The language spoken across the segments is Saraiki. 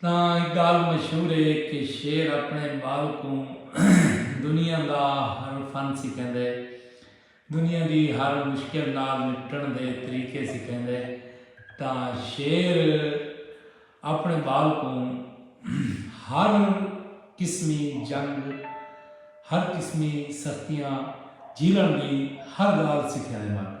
تاں اے ڳالھ مشہور اے کہ شیر اپݨے ٻال کوں دنیا دا ہر فن سکھیندے، دنیا دی ہر مشکل نال نپٹݨ دے طریقے سکھیندے تاں شیر اپݨے ٻال کوں ہر قسمی جنگ، ہر قسمی سختیاں جھیلݨ دی ہر ڳالھ سکھیندے ماکا۔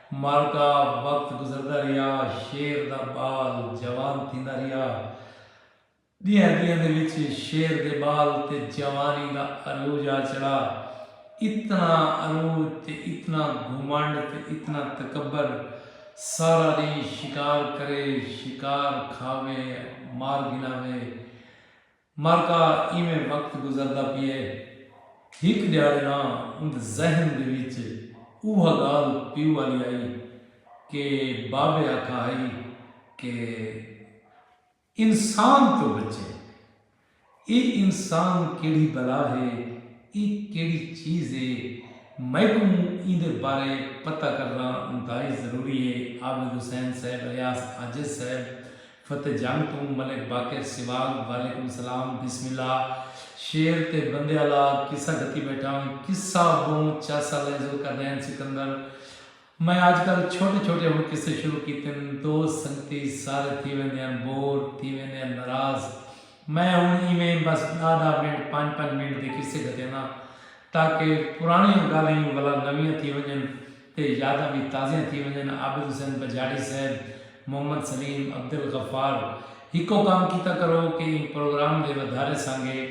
مالکا وقت گزردا رہیا شعر دا بال جوان تھیندا رہیا ڈینہاں ڈینہاں دے وچ شعر دے بال تے جوانی دا عروج آ چڑھا اتنا عروج تے اتنا گھمنڈ تے اتنا تکبر سارا ڈینہہ شکار کرے شکار کھاوے مار گھناوے مرکا ایویں وقت گزردا پیئے۔ ہک ڈیہاڑے نا اوند ذہن دے وچ اوہا گالھ پیو آلی آئی کہ بابے آکھا ہئی کہ انسان توں بچے۔ اے انسان کیڑھی بلا ہے، اے کیڑھی چیز ہے، میکوں ایندے بارے پتہ کرنا انتہائی ضروری ہے۔ عابد حسین صاحب الیاس عاجز صاحب فتح جنگ توں ملک باقر سیواگ وعلیکم سلام بسم اللہ شیر تے بندے آلا قصہ گھتی بیٹھا میں قصہ بہوں چاسا لیزو کرنین سکندر میں آج کل چھوٹے چھوٹے ہم قصے شروع کیتن دوست سنگتی سارے تھی ویندین بور تھی ویندین ناراض میں ہن ایویں بس ڈاہ ڈاہ منٹ پنج پنج منٹ دے قصے گھتینداں تاکہ پرانیاں گالہیں ولا نویاں تھی ونجن تے یاداں وی تازیاں تھی ونجن، عابد حسین بجاڑی صاحب، محمد سلیم، عبدالغفار ہکو کم کیتا کرو کہ ایں پروگرام دے ودھارے سانگے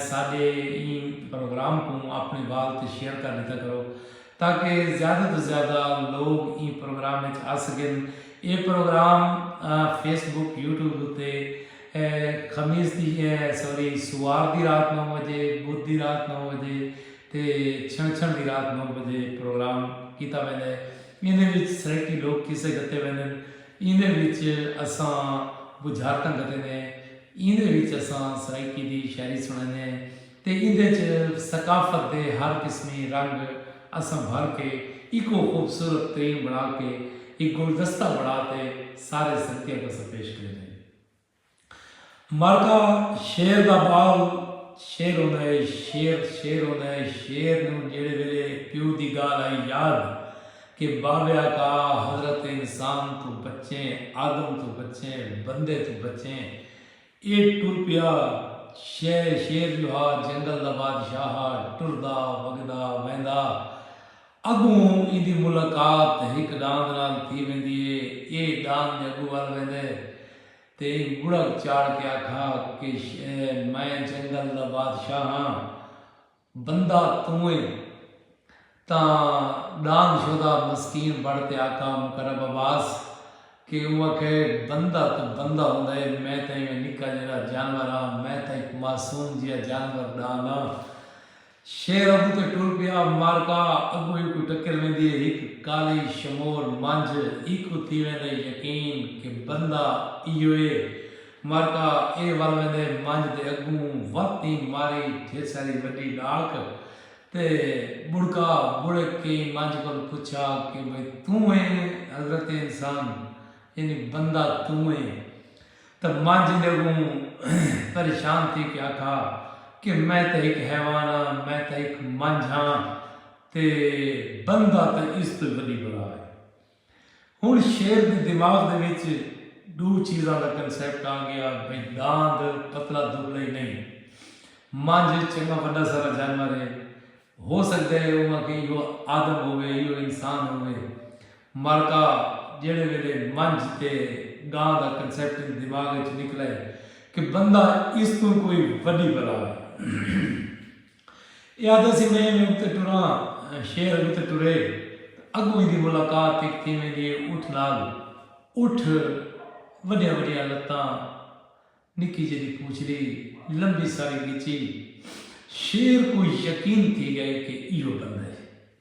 ساڈے ایں پروگرام کوں اپنے وال تے شیئر کر ڈتا کرو تاکہ زیادہ توں زیادہ لوگ ایں پروگرام اچ آسگن اے پروگرام فیس بک یوٹیوب اتے خمیس دی سوری سوار دی رات نو وجے بدھ دی رات نو وجے تے چھنچھڑ دی رات نو بجے پروگرام کیتا ویندا ہے۔ ایندے وچ سرائیکی لوک قصے گھتے ویندن۔ ایندے وچ اساں بجھارتاں گھتیندے ہیں۔ ایندے وچ اساں سرائیکی دی شاعری سنڑیندے ہیں تے ایندے وچ ثقافت دے ہر قسمی رنگ اساں بھر کے ایکوں خوبصورت ترین بنڑا کے ہک گلدستہ بنڑا تے سارے سنگتیاں کساں پیش کریندے ہیں۔ مرغا شیر دا بال شیر ہوندا اے شیر شیر ہوندا اے شیر نوں جیڑھے ویلے پیو دی گالھ آئی یاد کہ بابے آقا حضرت انسان توں بچیں آدم توں بچیں بندے توں بچیں اے ٹر پیا شے شیر جو ہا جنگل دا بادشاہ ہا ٹردا وگدا ویندا اڳوں ایندی ملاقات ہک ݙاند نال تھی ویندی ہے۔ ایہ ݙاند دے اڳوں ول ویندے تے ایں ٻڑک چاڑھ کے آکھا کہ میں جنگل دا بادشاہ ہاں۔ بندہ توں ایں۔ تاں ݙاند شودا مسکین بݨ تے آکھا مقرب عباس کہ اوں آکھے بندہ تاں بندہ ہوندا ہے میں تاں ایویں نکا جیڑھا جانور ہاں۔ میں تاں ہک معصوم جیہا جانور ݙاند ہاں۔ شیر ابو تے ٹر پیا مارکا اگوں ای کوں ٹکر ویندی اے ہک کالی شمور منجھ ای کوں تھی ویندے یقین کہ بندہ ایہو اے مارکا اے ول ویندے منجھ دے اگوں وت ای ماری ڈھیر ساری وڈی ڈاک تے بڑکا بڑک کے ای منجھ کول پچھا کہ بھئی توں اے حضرت انسان یعنی بندہ توں اے تاں ماں جیندے اگوں پریشان تھی کے آکھا کے میں تاں ہک حیوان ہاں میں تاں ہک منجھ ہاں تے بندہ تاں اس توں وڈی بلا ہے۔ ہن شیر دے دماغ دے وچ ڈو چیزاں دا کنسپٹ آ گیا بھئی ڈاند پتلا دبلا ہی نہیں منجھ چنگا وڈا سارا جانور ہے ہو سکدا ہے اوہاں کے ایہو آدم ہووے ایہو انسان ہووے۔ مرکہ جیڑھے ویلے منجھ تے گاں دا کنسیپٹ ایں دماغ اچ نکلائے کہ بندہ اس توں کوئی وڈی بلا ہے۔ ایہ آہدا سی میں ایویں اتے ٹراں شہر اگوں تے ٹرے تاں اگوں ایندی ملاقات ہک تھیں ویندی ہے اٹھ نال۔ اٹھ وڈیاں وڈیاں لتاں نکی جیڈی پوچھڑی لمبی ساری گچی شیر کوں یقین تھی گئے کہ ایہو بندہ ہے۔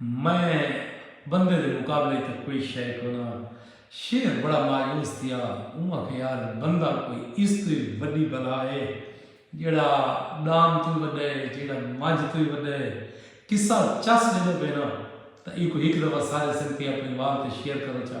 میں بندے دے مقابلے اچ تاں کوئی شئے کوناں۔ شیر بڑا مایوس تھیا۔ اوں آکھیا یار بندہ کوئی اس توں وی وڈی بلا اے۔ جیہڑا ڈام توں وی وڈا اے، جیہڑا منجھ توں وی وڈا اے۔ قصہ چس ویندے پئے ناں تاں ایکوں ہک دفعہ سارے سنگتی اپنڑی وال تے شیئر کرو چا۔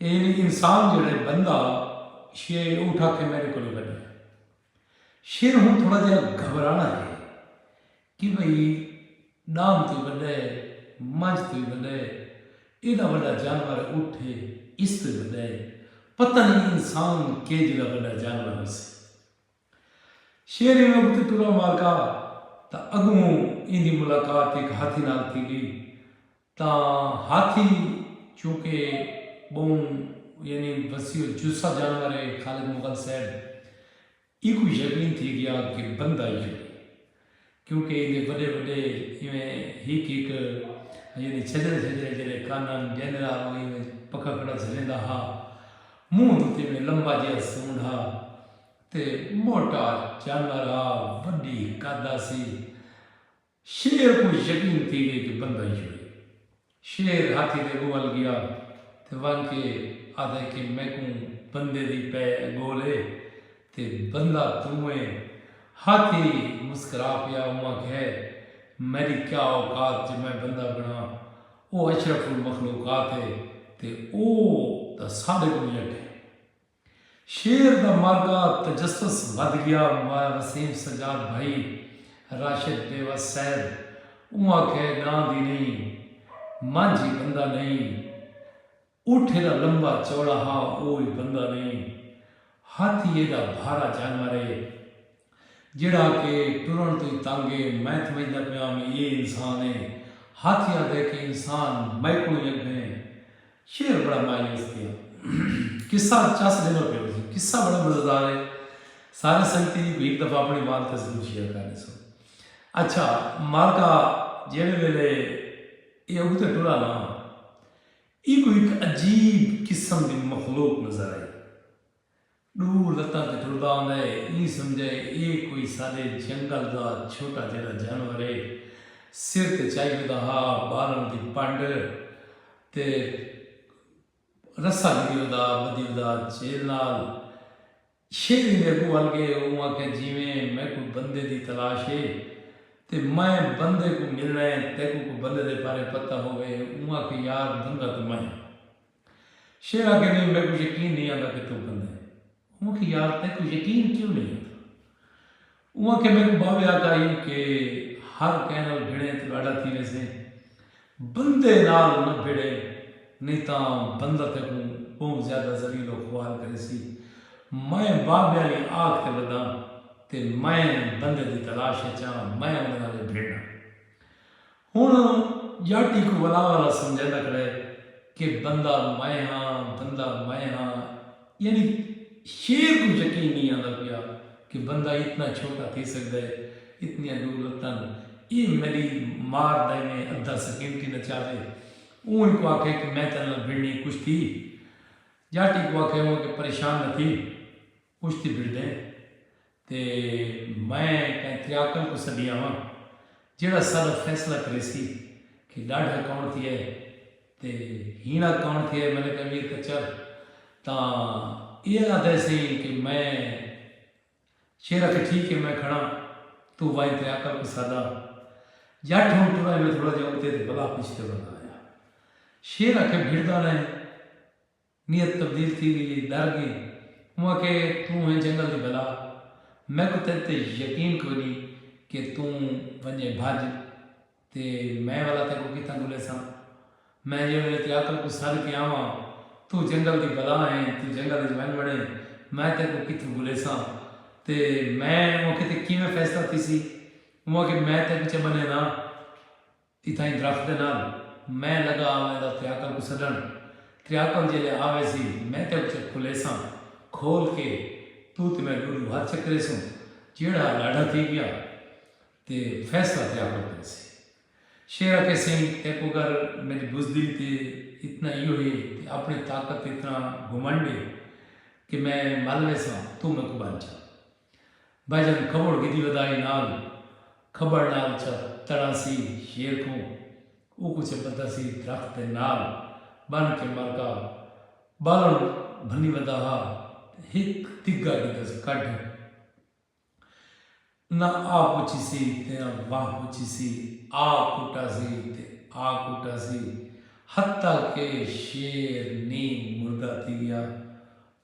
یعنی انسان جیڑھے بندہ شے اٹھ آکھے میڈے کولوں وڈی ہے شیر ہن تھوڑا جہا گھبرانا ہے کہ بھئی ڈان تو وڈے منج تو وڈے ایڈا وڈا جانور اٹھ ہے اس تو وڈے پتہ نہیں انسان کے جڑا وڈا جانور ہو سی شیر ایویں اگتے ٹرا مارکا تا اگوں ایندی ملاقات ایک ہاتھی نال تھی گئی تاں ہاتھی چونکہ ٻہوں یعنی وسیع الجثہ جانور ہے، خالد مغل صاحب اینکوں یقین تھی ڳیا کہ بندہ ای ہئی کیونکہ ایندے وݙے وݙے ایویں ہک ہک یعنی چھجرے چھجرے جیڑھے کن ہن ݙیندرا او ایویں پکھکڑا جھلیندا ہا، منہ دے اتے ایویں لمبا جیہا سونڈ ہا تے موٹا جانور ہا، وݙی قد ہاسی، شیر کوں یقین تھی گئی کہ بندہ ایہو ہے۔ شیر ہاتھی دے اگوں ول گیا تے ونج کے آدھے کہ میکوں بندے دی پے گول ہے تے بندہ توں ہے۔ ہاتھی مسکرا پیا اوں آکھے میڈی کیا اوقات جو میں بندہ بناں۔ او اشرف المخلوقات ہے تے او تاں سارے کوں یک ہے۔ شعر دا مارکا تجسس ودھ گیا مایا وسیم سجاد بھائی راشد بیوس صاحب اوں آکھے ڈاں دی نئیں مانجھی بندہ نئیں اٹھ ایڈا لمبا چوڑا ہا او وی بندہ نئیں ہاتھی ایڈا بھارا جانور اے جیڑھا کہ ٹرݨ توں ای تنگ اے، میں تھمجھدا پیاں وی ایہ انسان اے۔ ہاتھی آہدے کہ انسان میکوں ای اگھے اے۔ شیر بڑا مایوس تھیا۔ قصہ چس ݙیندا پیا ہوسی۔ قصہ بڑا مزیدار اے۔ سارے سنگتیں ایکوں ہک دفعہ اپݨے وال تے ضرور شیئر کر ݙیسو۔ اچھا مالکا جیڑھے ویلے ایہ اڳتے ٹرا نا ایکوں ہک عجیب قسم دی مخلوق نظر آئی۔ ݙو لتاں تے ٹردا آندا ہے۔ ایں سمجھا ہے اے کوئی ساݙے جنگل دا چھوٹا جیڑھا جانور ہے۔ سر تے چائی ودا ہا، ٻالݨ دی پݙ تے رسہ گھدی ودا ہا، ٻدھی ودا ہا چیل نال۔ شیر ایندے اڳوں ول ڳئے۔ اوں آکھیا جیویں میکوں بندے دی تلاش ہے تے میں بندے کوں ملݨا ہے، تیکوں کوں بندے دے پارے پتہ ہووے۔ اوں آکھیا یار بندہ تے میں ہاں۔ شیرا کہندی میکوں یقین نئیں آندا کہ توں بندہ ہیں۔ اوں آکھیا یار تیکوں یقین کیوں نئیں آندا۔ اوں آکھیا میکوں باوے آکھا ہی کہ ہر کہیں نال بھیڑیں توں ݙاڈھا تھی ویسیں بندے نال نہ بھیڑیں نئیں تاں بندہ تیکوں ٻہوں زیادہ ذلیل و خوار کریسی۔ میں باوے آلی آکھ تے وداں تے میں بندے دی تلاش اچ آں میں اوندے نال ای بھیڑاں۔ ہن جاٹی کوں ولا والا سمجھیندا کھڑا ہے کہ بندہ میں ہاں، بندہ میں ہاں۔ یعنی شیر کوں یقین نئیں آندا پیا کہ بندہ اتنا چھوٹا تھی سگدا ہے، اتنیاں ڈو لتاں ن اے ملی مار دے میں ادھا سکینٹی نچاوے۔ اوں اینکوں آکھے کہ میں تیڈے نال بھڑنی کشتی۔ جاٹی کوں آکھے اوں آکھے پریشان نہ تھی۔ پشتی بھرڈے تے میں کائیں تریاکل کوں سڈیا واں جیہڑا ساڈا فیصلہ کریسی کہ ڈاڈھا کون تھیا ہے تے ہینڑا کون تھیا ہے ملک امیر کچر تاں ایہہ آدھے سئیں کہ میں شیر آکھے ٹھیک ہے میں کھڑاں توں وائیں تریاکل کوں ساڈا جٹ ہن ٹرا ایویں تھوڑا جا اتے تے بلا پشتے بلا آیا شیر آکھے بھرڈا رہے نیت تبدیل تھی گئی ہئی، ڈر گئیں۔ اوں آکھیا اے توں ہیں جنگل دی بلا، میکوں تیڈے تے یقین کوئنی کہ توں ونجیں بھج تے میں ولا تیکوں کتھاں گھلیساں۔ میں جیڑھے ویلے تیڈی عقل کوں سڈ کے آواں توں جنگل دی بلا ہیں توں جنگل اچ ونج وڑیں میں تیکوں کتھوں گھلیساں تے میں اوں آکھیا تے کیویں فیصلہ تھیسی۔ اوں آکھیا میں تیکوں چا بنینداں۔ اتھائیں درخت دے نال میں لگا آویندا تریاکل کوں سڈݨ۔ تریاکل جیلے آویسی میں تیکوں چک کھلیساں۔ کھول کے توں تے میں ݙوݙو ہتھ چکریسوں۔ جیڑھا ݙاڈھا تھی ڳیا تے فیصلہ تریاکل کریسی۔ شیر آکھے سئیں تیکوں اگر میݙی بزدلی تے اتنا ایہو ہے تے اپݨی طاقت تے اتنا گھمنڈ ہے کہ میں مل ویساں توں میکوں بن چا۔ بھجن کھوڑ گھدی ودائی نال کھبڑ نال چا تڑاں سی شیر کوں اوکوں چا بدھا سی درخت دے نال بن کے مرگا بالن بھنی ودا ہا تے ہک دھگا گھدا سی کڈھ نہ آ پچھی سی تے نہ واہ پچھی سی آ کٹا سی تے آ کٹا سی حتی کہ شیر نی مردہ تھی گیا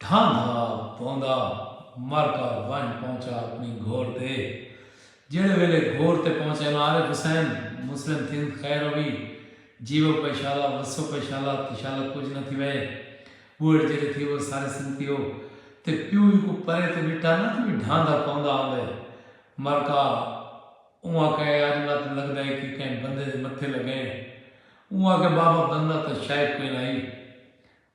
ڈھاندا پوندا مر کا ونج پہنچا اپنی گھوڑ تے جیڑھے ویلے گھوڑ تے پہنچے نو عارف حسین مسلم تھیند خیر ہووی جیوو پئے شالا وسو پئے شالا تے شالا کجھ نہ تھیوے بوہڑ جیڑھے تھی وہ سارے سنگتی ہو تے پیو وی کو پرے تے ڈٹھا نہ تے وی ڈھاندا پوندا آندے مر کا اوں آکھے اج مت لگدا ہے کہ کہیں بندے دے متھے لگئیں اوں آکھے بابا بندہ تاں شاید کوئی نہ ہی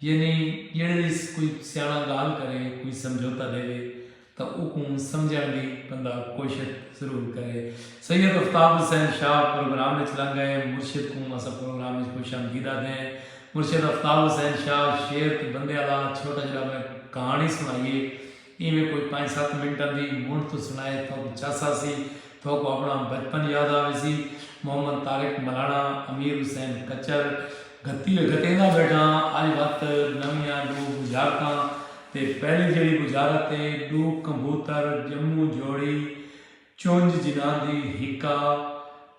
یعنی جیڑھے وی کوئی سیاݨا ڳالھ کرے، کوئی سمجھوتہ ݙیوے تاں اوکوں سمجھݨ دی بندہ کوشش ضرور کرے۔ سید افتاب حسین شاہ پروگرام وچ لنگھ ڳئے۔ مرشد کوں اساں پروگرام وچ خوش آمدید آہدے ہیں۔ مرشد افتاب حسین شاہ شعر تے بندے آلا چھوٹا جیڑھا میں کہاݨی سݨائی اے۔ ایویں کوئی پنج ست منٹاں دی منڈھ توں سنڑائے تھوک چس آسی۔ تھوک اپنڑاں بچپن یاد آویسی۔ محمد طارق ملانڑا، امیر حسین کچر، گھتی ہوئی۔ گھتیندا بیٹھاں اج وت نویاں ڈو بجھارتاں تے پہلی جیڑھی بجھارت اے ڈو کمبھوتر جموں جوڑی چنج جناندی ہکا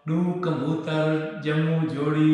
ڈو کمبھوتر جموں جوڑی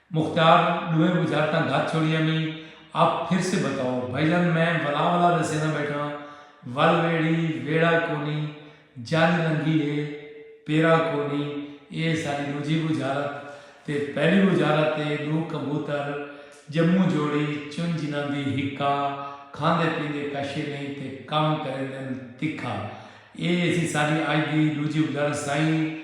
مختیار ڈوہیں بجھارتاں گھت چھوڑیاں وی اب پھر سے بتاؤ بھائی جان میں ولا ولا دے سیندا بیٹھاں ول ویڑھی ویڑھا کونی جنج لنگھی ہے پیرا کونی اے ساڈی ڈوجھی بجھارت تے پہلی بجھارت تے ڈو کبوتر جموں جوڑی چن جناندی ہکا کھاندے پیندے کشے نیں تے کم کریندن تکھا اے سی ساڈی اج دی ڈوجھی بجھارت سائیں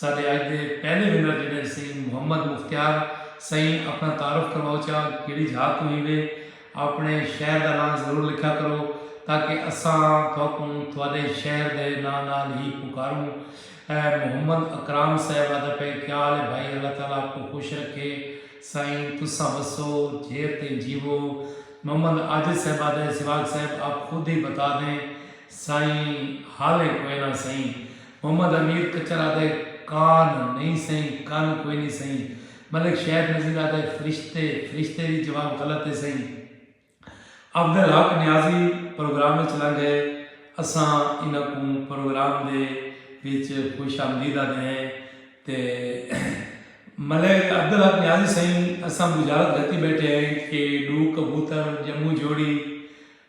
ساڈے اج دے پہلے ونر جیڑھے سئیں محمد مختیار سئیں اپنا تعارف کرواؤ چا کیڑی جھا توں ہیوے اپنے شہر دا ناں ضرور لکھیا کرو تاکہ اساں تھوکوں تھوڈے شہر دے ناں نال ہی پکاروں محمد اکرام صاحب آدھا پئے کیا حال ہے بھائی اللہ تعالی آپ کو خوش رکھے سائیں تساں وسو جھیر تئیں جیوو محمد عاجز صاحب آدھا ہے سواگ صاحب آپ خود ہی بتا دیں سائیں حالیں کوئنہ سئیں محمد امیر کچر آہدے کان نئیں سئیں کن کوئی نئیں سئیں ملک شید نذیر آہدے فرشتے فرشتے وی جواب غلط اے سئیں افضل حق نیازی پروگرام وچ لنگھ ہے اساں انہاں کوں پروگرام دے وچ خوش آمدید آہدے ہیں تے ملک افضل حق نیازی سئیں اساں بشارت گھتی بیٹھے ہیں کہ ڈو کبوتر جموں جوڑی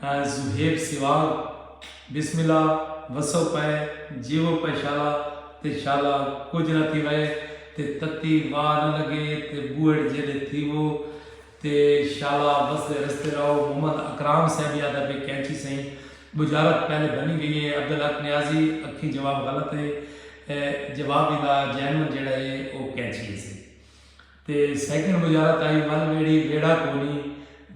صہیب سیواگ بسم اللہ وسو پئے جیوو پئے شالا تے شالا کجھ نہ تھی وئے تے تتی واہ نہ لگے تے بوہڑ جیڈے تھیوو تے شالا وسدے رستے رہو محمد اکرام صاحبی آدھا پئے کینچی سئیں بجارت پہلے بنی گئی اے عبدالحق نیازی اکھیں جواب غلط اے جواب ایندا جینون جیڈا اے او کینچی اے سئیں۔ تے سیکنڈ مجارہ تائیں ول ویڑھی ویڑھا کونی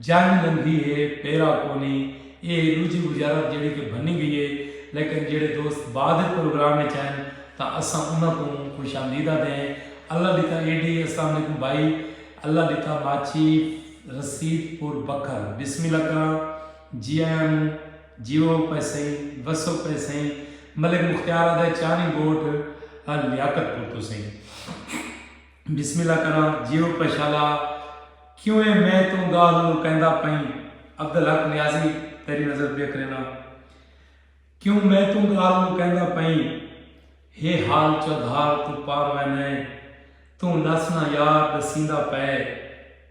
جنگ لنگھی ہے پیرا کونی اے ہے ڈوجھی وجارت جیڑھی کہ بھنی گئی ہے لیکن جیڑھے دوست بعد اچ پروگرام اچ آئن تاں اساں انہاں کوں خوش آمدید آدھے ہیں اللہ ڈتا اے ڈی اسلام علیکم بھائی اللہ ڈتا ماچھی رسید پور بکھر بسم اللہ کراں جی آیاں نو جیوو پئے سئیں وسو پئے سئیں ملک مختیار آدھے چانی گوٹھ لیاقت پور توں سئیں۔ بسم اللہ کراں جیوں پشالا کیوں اے میں توں گالھ نوں کہندا پئیں عبدالحق نیازی تیری نظر پیا کرینا کیوں میں توں گالھ نوں کہندا پئیں ہے حال چودھار توں پار وینے توں لس نہ یار دسیندا پئے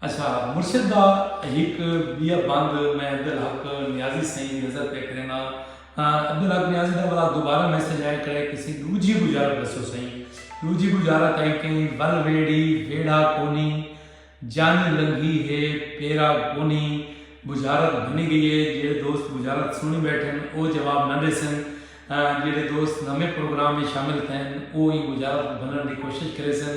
اچھا مرشد دا ہک بیا بند میں عبدالحق نیازی سئیں دی نظر پئے کرینداں تاں عبدالحق نیازی دا ولا دوبارہ میسج آئے کھڑے کسیں ڈوجھی بجارت ڈسو سئیں ڈوجھی بجارت آئی کہیں ول ویڑھی ویڑھا کونی جانی لنگھی ہے پیرا کونی بجارت بھنی گئی ہے جیڑھے دوست بجارت سنڑی بیٹھن او جواب نہ ڈیسن جیڑھے دوست نویں پروگرام اچ شامل تھین او ایں بجارت کوں بھننڑ دی کوشش کریسن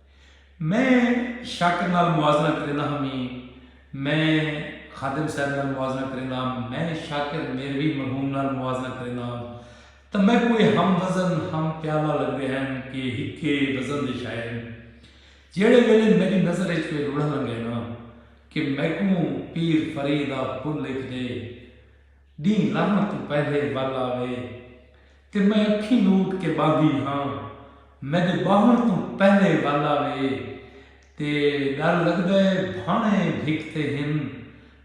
میں شاکر نال موازنہ کریندہ ہاں میں میں خادم صاحب نال موازنہ کریندہ ہاں میں شاکر میروی مرحوم نال موازنہ کریندہ ہاں تاں میکوں ایہ ہم وزن ہم پیالہ لگدے ہن کہ ہکے وزن دے شاعر ہن جیڑھے ویلے میڈی نظر اچ کوئی روڑھا لنگھے نا کہ میکوں پیر فرید آ پھل لکھ ڈے ݙینہہ لہݨ توں پہلے ول آوے تے میں اکھیں لوٹ کے ٻاہندی ہاں میݙے ٻاہݨ توں پہلے ول آوے تے ݙر لڳدا ہے بھاݨے بھک تے ہن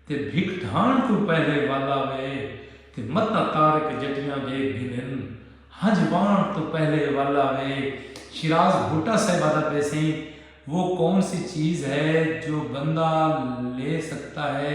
تے بھک ڈھاݨ توں پہلے ول آوے تے متاں طارق جٹیاں ݙیکھ گھنن ہنج واݨ توں پہلے ول آوے شیراز بھٹہ صاحب آہدا پئے سئیں وہ کون سی چیز ہے جو بندہ لے سکتا ہے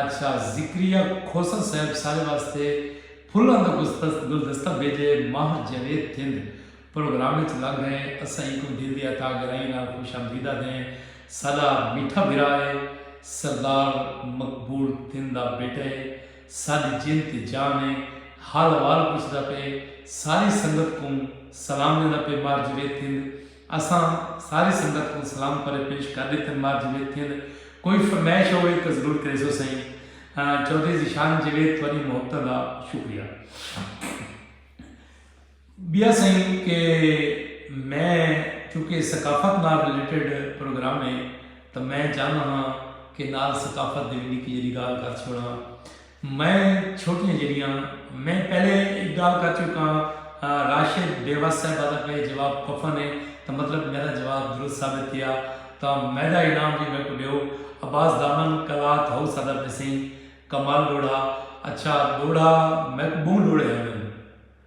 اچھا ذکریہ کھوسہ صاحب سارے واسطے پھلاں دا گلدستہ بھیجے ماہر جاوید تھند پروگرام اچ لگ گئیں اساں اینکوں دل دی عطا گرائیں نال خوش آمدید آدھیں ساڈا میٹھا بھرا اے سردار مقبول تھند دا بیٹا اے ساڈی جند تے جان اے حال احوال پچھدا پئے ساری سنگت کوں سلام ڈیندا پئے ماہر جاوید تھند اساں ساری سنگت کوں سلام پرے پیش کر ڈتن مار جیوید تھیند کوئی فرمائش ہووی تاں ضرور کریسو سئیں چوہدری ذیشان جیوید تہاڈی محبتاں دا شکریہ بیا سئیں کہ میں چونکہ ثقافت نال ریلیٹڈ پروگرام ہے تاں میں چاہندا ہاں کہ نال ثقافت دی وی نکی جیڈی گالھ کر چھوڑاں۔ میں چھوٹیاں جیڑھیاں میں پہلے ایک گال کر چکا ہاں راشد بیوس صاحبہ دا پہلے جواب پفن ہے تاں مطلب میرا جواب درست ثابت تھیا تاں میڈا انعام وی میکوں ڈیو عباس دامن کلات ہاؤس آدھا پے سئیں کمال ڈوڑھا اچھا ڈوڑھا میکوں بہوں ڈوڑھے آندن۔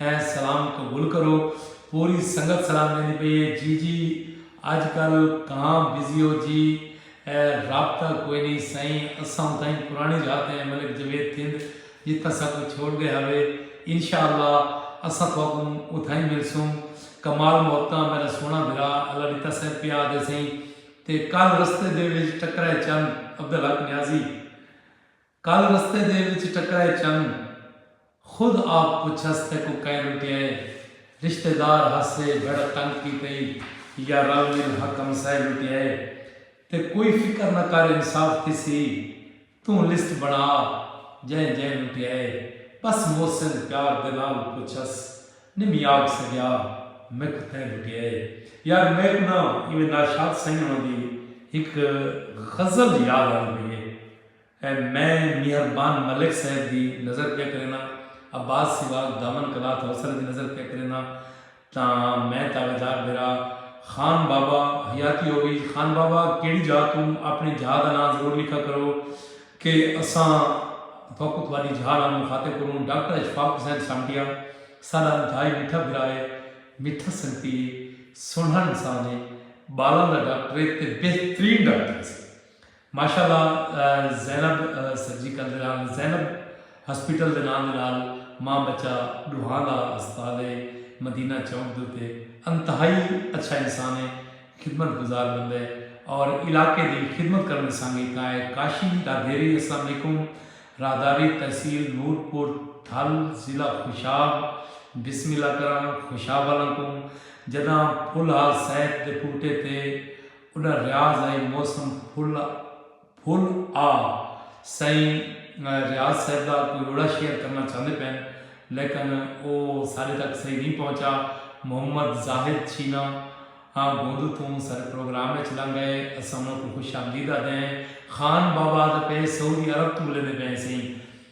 ہے سلام قبول کرو۔ پوری سنگت سلام ڈیندی پئی ہے جی جی اج کل کہاں بزی ہو جی اے رابطہ کوئی نی سائیں اساں اتھائیں پرانی رہتے ہیں ملک جاوید تھند جتھاں ساکوں چھوڑ گئے ہاوے انشاء اللہ اساں تھاکوں اتھائیں ملسوں کمال محبتاں میرا سوہنا بھرا اللہ ڈتا سائیں پیا آدھے سائیں تے کل رستے دے وچ ٹکرائے چند عبدالحق نیازی۔ کل رستے دے وچ ٹکرائے چن خود آپ پچھس تیکوں کئیں لٹیائے رشتے دار ہسے بھڑ تنگ کیتئی یا رل مل ہک ہمسائے لٹیائے تے کوئی فکر نہ کر انصاف تھیسی توں لسٹ بنا جئیں جئیں لٹیائے بس محسن پیار دے نال پچھس نمی آکھ سگیا میکوں تیں لٹیائے یار میکوں نہ ایویں ناشاد سئیں ہونا دی ہک غزل یاد آندی پئی اے۔ اے میں میہر بان ملک صاحب دی نظر پیا کرینا عباس سواگ دامن کلا تھا اسلے دی نظر پیا کرینا تاں میں تاڑا جار بیرا خان بابا حیاتی ہووی خان بابا کیڑی جاہ توں اپنی جاہ دا ناں ضرور لکھا کرو کہ اساں تھوکو تھوڑی جاہ نال مخاطب کروں ڈاکٹر اشفاق حسین سامٹیا ساڈا انتہائی میٹھا بھرا ہے میٹھا سنگتی ہے سنہڑا انسان ہے بالاں دا ڈاکٹر ہے تے بہترین ڈاکٹر ہے سی ماشاء اللہ زینب سرجیکل دے نال زینب ہسپیٹل دے ناں دے نال ماں بچہ ڈوہاں دا ہسپتال ہے مدینہ چونک دے اتے انتہائی اچھا انسان ہے خدمت گزار بندہ ہے اور علاقے دی خدمت کرن دی سانگے کاں ہے کاشی راہدیری السلام علیکم راہداری تحصیل نور پور تھل ضلع خوشاب بسم اللہ کراں خوشاب آلاں کوں جداں پھل ہا سیت دے پوٹے تے انہاں ریاض ائیں موسم پھل پھل آ سائیں ریاض صاحب دا کوئی روڑا شیئر کرنا چاہندے پئن لیکن او ساڈے تک صحیح نہیں پہنچا محمد زاہد چھینا ہاں گوندو توں ساڈے پروگرام وچ لنگ گئے اساں انہاں کوں خوش آمدید آدھے ہیں خان بابا آدھے پئے سعودی عرب توں ملیندے پئے ہیں سائیں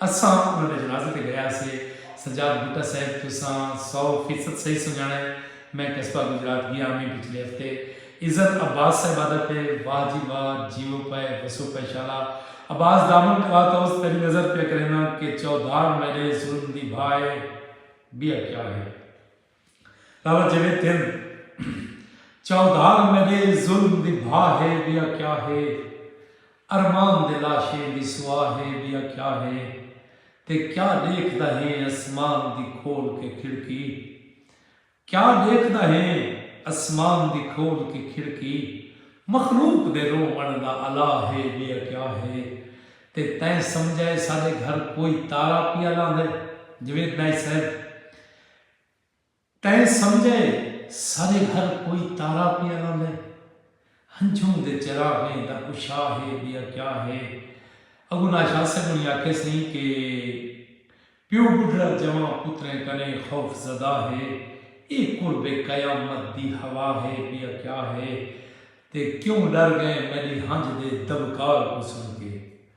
اساں انہاں دے جنازے تے گئے ہاسے۔ سجاد بھٹہ صاحب تساں سو فیصد صحیح سنڄاݨا ہے۔ میں قصبہ گجرات ڳیا ہمی پچھلے ہفتے۔ عزت عباس صاحبہ دا تے واہ جی واہ جیو پئے وسو پئے شالا عباس دامن کھا تئوس تیݙی نظر پیا کرینداں کہ چودھار میݙے ظلم دی بھا ہے ٻیا کیا ہے۔ چاودھار میڈے ظلم دی بھا ہے بیا کیا ہے ارمان دے لاشیں دی سوا ہے بیا کیا ہے تے کیا ڈیکھدا ہیں اسمان دی کھول کے کھڑکی کیا ڈیکھدا ہیں اسمان دی کھول کے کھڑکی مخلوق دے روون دا الا ہے بیا کیا ہے تے تیں سمجھا ہے ساڈے گھر کوئی تارا پیا لاندے۔ تیں سمجھے سارے ہر کوئی تارا پیا لاندے ہنجھوں دے چراغیں دا کشا ہے بیا کیا ہے اگوں ناشاد صاحب انہیں آکھے سہیں کہ پیو بڈھڑا جوان پتریں کنے خوف زدہ ہے اے قرب قیامت دی ہوا ہے بیا کیا ہے تے کیوں ڈر گئے میڈی ہنج دے دبکار کو سن کے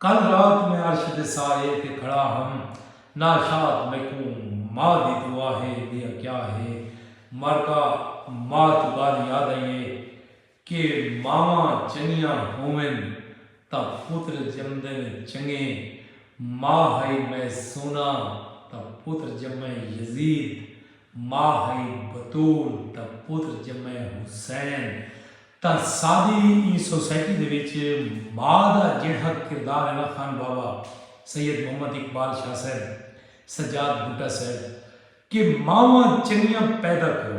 کل رات میں عرش دے سائے تے کھڑا ہم ناشاد میکوں ماء دی دعا ہے لیا کیا ہے مرگا ماء توں گالھ یاد آئی ہے کہ ماواں چنگیاں ہوون تاں پتر جمدن چنگے ماء ہئی میں سونا تاں پتر جمے یزید ماء ہئی بتول تاں پتر جمے حسین تاں ساݙی ایں سوسائٹی دے وچ ماء دا جیڑھا کردار ہے نا خان بابا سید محمد اقبال شاہ صاحب، سجاد بھٹہ صاحب کہ ماواں چنگیاں پیدا کرو۔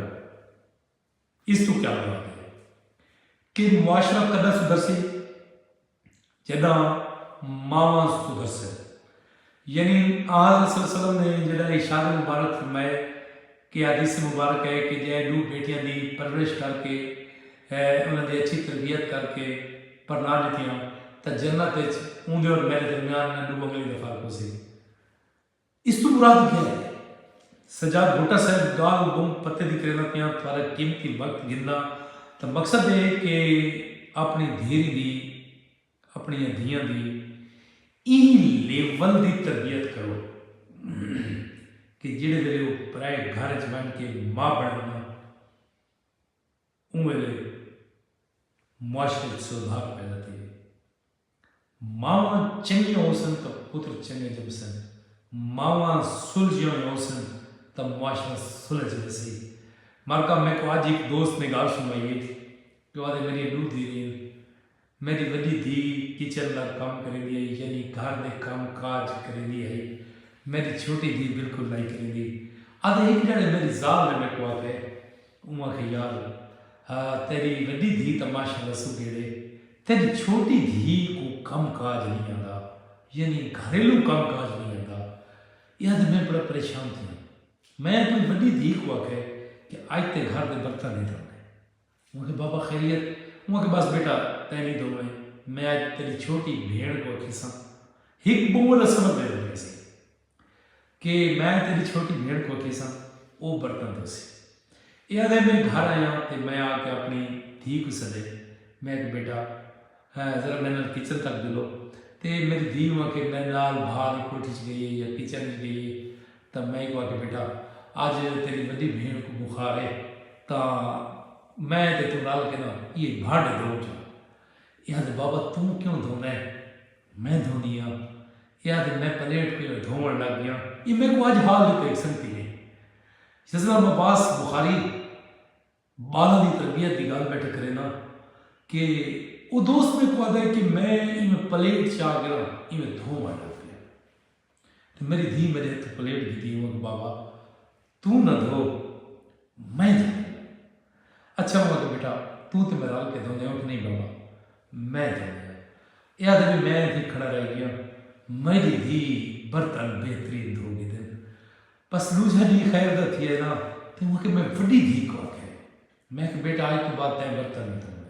اس توں کیا مراد ہے کہ معاشرہ کداں سدھرسی؟ جڈاں ماواں سدھرسن۔ یعنی آنحضرت صلی اللہ علیہ وسلم نے جڈاں ارشاد مبارک فرمائے کہ حدیث مبارک ہے کہ جے ڈو بیٹیاں دی پرورش کر کے انہاں دی اچھی تربیت کر کے پرنا ڈتیاں تاں جنت اچ اوندے اور میڈے درمیان نہ ڈو انگلی دا فرق ہوسی۔ اس توں مراد کیا ہے؟ سجاد بھٹہ صاحب گالھ گم پتے دی کریندا پیاں تھارا قیمتی وقت گھندا تاں مقصد اے کہ اپنی دھیری دی اپنیاں دھیاں دی ایں لیول دی تربیت کرو کہ جیڑھے ویلے او پرائے گھر اچ ونج کے ماء بنن نا اوں ویلے معاشرے اچ سودھار پیدا تھیوے۔ ماواں چنگیاں ہوسن تاں پتر چنگے جمسن۔ ماواں سلجھیاں ہویاں ہوسن تاں معاشرہ سلجھ ویسی۔ مرکا میکوں اج ہک دوست نے گالھ سنڑائی ہئی کہ او آہدے میڈیاں ڈو دھیریں ہن۔ میڈی وڈی دھی کچن دا کم کریندی ہئی یعنی گھر دے کم کاج کریندی ہئی۔ میڈی چھوٹی دھی بالکل نائی کریندی۔ آہدے ہک ڈیہڑے میڈی زال نے میکوں آکھے۔ اوہ آکھے یار ہا تیری وڈی دھی تاں ماشاء اللہ سگھڑ ہے تیڈی چھوٹی دھی کوں کم کاج نئیں آندا یعنی گھریلو کم کاج نئیں آندا ایہا تے میں بڑا پریشان تھیاں میں اپنی وڈی دھی کوں آکھے کہ اج تیں گھر دے برتن نئیں دھونے اوہ آکھے بابا خیریت اوہ آکھے بس بیٹا تیں نئیں دھوویں میں اج تیڈی چھوٹی بھیڑ کوں آکھیساں ہک بومل اسمر دے ونجیسی۔ کہ میں تیڈی چھوٹی بھیݨ کول تھیساں او برتن دھوسی۔ ایہ آدھے میں گھر آیاں تے میں آ کے اپݨی دھی کوں سݙے میں آکھیا بیٹا ذرا میݙے نال کچن تک جلو تے میݙی دھی نوں آکھے میݙے نال بھا دی کوٹھی اچ گئی یا کچن اچ گئی تاں میں اکوں آکھے بیٹا اج تیݙی وݙی بھیݨ کوں بخار اے تاں میں تے توں رل کے نا ایہ بھانڈے دھوؤں چا۔ ایہ آدھے بابا توں کیوں دھوݨا اے میں دھوندی آں۔ ایہا تے میں پلیٹ پہلے دھووݨ لگ ڳیاں۔ ایہ میکوں اڄ حال ݙتا ہک سنگتی نے جس نال میں بعض بخاری ٻالاں دی تربیت دی ڳالھ ٻیٹھے کرینداں کہ او دوست میکوں آہدا ہے کہ میں ایویں پلیٹ چا کے نا ایویں دھووݨ لگ ڳیاں تے میݙی دھی میݙے ہتھوں پلیٹ ڳھدی اوہاں کوں بابا توں نہ دھو میں دھو دوں۔ اچھا موں آکھیا بیٹا توں تے میں رل کے دھوندے اٹھ نہیں بابا میں دھوندے آں۔ ایہ آکھدے وی میں اتھے کھڑا رہ گیاں میڈی دھی برتن بہترین دھو گھدن۔ بس ڈوجھا ڈینہہ خیر دا تھیا نا تے اوں آکھیا میں وڈی دھی کوں آکھیا میں کہ بیٹا اج توں بعد تیں برتن نہیں دھونے۔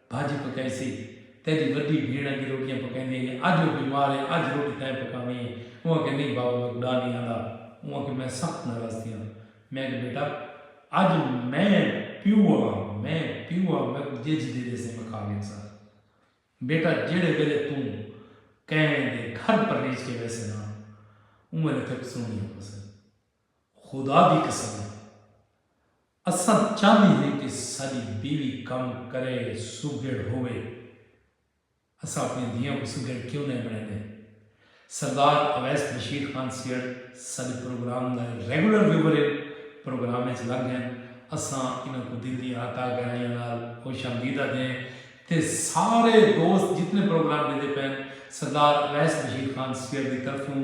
بھاجی پکائیسی۔ تیڈی وڈی بھیݨ اگے روٹیاں پکائیندی ہئی۔ اج او بیمار ہے، اج روٹی تیں پکاوݨی ہے۔ اوں آکھیا نئیں بابو میکوں ݙا نئیں آندا۔ اوں آکھیا میں سخت ناراض تھیاں۔ میں آکھیا بیٹا اج میں پیو ہاں، میں پیو ہاں میکوں جج دے ݙیسیں میں کھا گھنساں۔ بیٹا جیڑھے ویلے توں کہیں دے گھر پرنیج کے ویسیں نا اوں ویلے تیکوں سنڑیاں پوسن۔ خدا دی قسم ہے اساں چاہندے ہیں کہ ساڈی بیوی کم کرے سگھڑ ہووے اساں اپنیاں دھیاں کوں سگھڑ کیوں نئیں بنڑیندے سردار اویس رشید خان سیڑ ساڈے پروگرام دے ریگولر ویور ہن پروگرام اچ لنگ ہن اساں انہاں کوں دل دی اہتاہ گہرائیاں نال خوش آمدید آدھے ہیں تے سارے دوست جتنے پروگرام ڈیندے پئے ہن سردار اویس رشید خان سیڑ دی طرفوں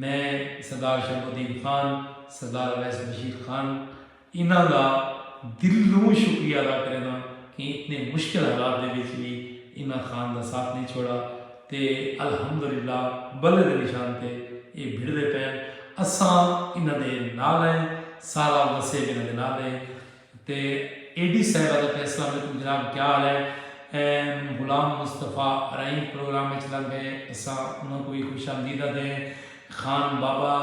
میں سردار شمس الدین خان، سردار اویس بشیر خان انہاں دا دلوں شکریہ ادا کرینداں کہ اتنے مشکل حالات دے وچ وی انہاں خان دا ساتھ نئیں چھوڑا تے الحمدللہ بلے دے نشان تے ایہ بھڑدے پئن اساں انہاں دے نال ہیں سارا وسیب انہاں دے نال ہے۔ تے اے ڈی صاحب آدھا پیا السلام علیکم جناب کیا حال ہے ایم غلام مصطفی ارائیں پروگرام اچ لنگ گئے اساں انہاں کوں وی خوش آمدید آدھے خان بابا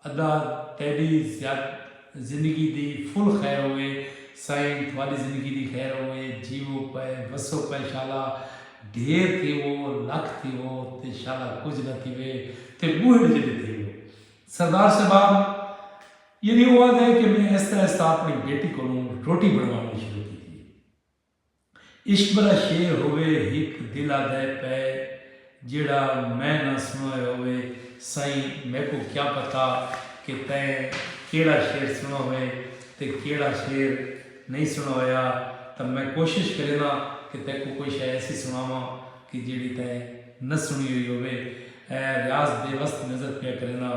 ادا تیڈی زندگی دی فل خیر ہووے سائیں تھاڈی زندگی دی خیر ہووے جیوو پئے وسو پئے شالا ڈھیر تھیوو لکھ تھیوو تے شالا کجھ نہ تھیوے تے بوہڑ جڈے تھیوو سردار صاحب یعنی او آہدا ہے کہ میں آہستہ آہستہ آپݨی بیٹی کولوں روٹی بݨواوݨی شروع کیتی ہے۔ عشق بھرا شعر ہووے ہک دل آہدے پئے جیڑھا میں نہ سݨوئے ہووے سئیں میکوں کیا پتہ کہ تئیں کیڑھا شعر سݨو ہوئے تے کیڑھا شعر نئیں سݨو ہویا تاں میں کوشش کرینداں کہ تیکوں کوئی شئے ایسی سݨاواں کہ جیڑھی تئیں نہ سݨی ہوئی ہووے۔ ریاض بے وس دی نظر پیا کرینداں۔